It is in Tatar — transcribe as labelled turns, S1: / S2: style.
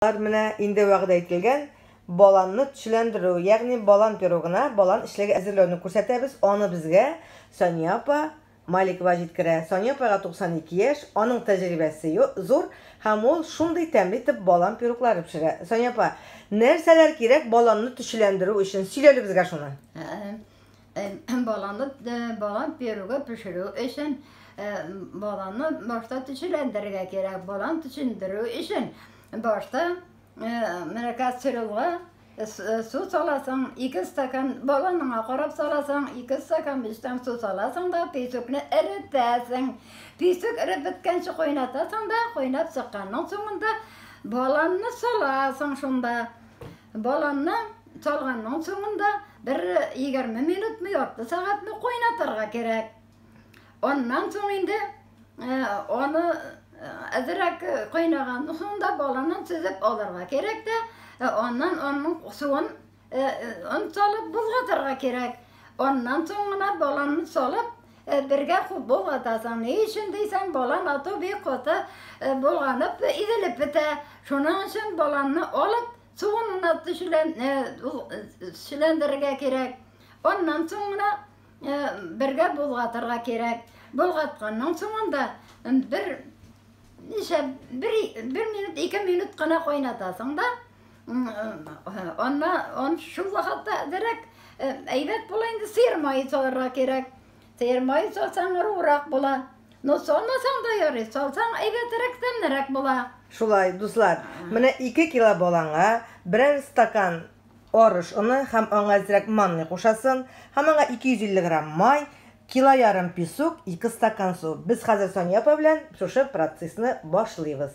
S1: Алар менә инде вәгъдә ителгән баланны төсләндерү, ягъни балан пирогына балан эчлеге әзерләүне күрсәтәбез, аны безгә Сания апа Маликова җиткерә. Сания апайга 92 яшь, аның тәҗрибәсе зур һәм ул шундый тәмле итеп балан пироглары пешерә. Сания апа, нәрсәләр кирәк баланны төсләндерү өчен? Сөйлә әле безгә шуны. Баланы
S2: балан перуга пешерү өчен баланы башта төчеләндерергә кирәк. Балан төчендерү өчен башта менә кастрюльга су саласың, ике стакан баланыңа карап саласың, ике стакан бистән су саласың да песокны эретәсең. Песок эреп беткәнче кайнатасың да, кайнап чыкканның соңында баланны саласың шунда. Баланны Салганның соңында бер егерме минутмы, ярты сәгатьме кайнатырга кирәк. Аннан соң инде э, аны э, әзерәк кайнаганның соңында баланы сөзеп алырга кирәк тә, э, аннан аның суын он салып болгатырга кирәк. Аннан соң гына баланы салып бергә куып болгатасың. Ни өчен дисәң, балан ату бик каты болганып, изелеп бетә. Шуның өчен баланны алып Суын гына төшелән, сүләндерергә кирәк. Аннан соң гына бергә булгатырга кирәк. Булгатканнан соңында бер ничә бер, бер минут, ике минут кына кайнатасың да, анна он шул вакытта дирәк әйбәт була инде сыер мае салырга кирәк. Сыермай салсаң ыруырак була. Но салмасаң да ярый, салсаң әйбәтерәк, тәмлерәк була. Шулай, дуслар,
S1: менә ике кило баланга берәр стакан арыш оны һәм аңа әзрәк манный кушасын, һәм аңа 250 грамм май, кило ярым песок, ике стакан су. Без хәзер Сания апа белән шушы процессны башлыйбыз.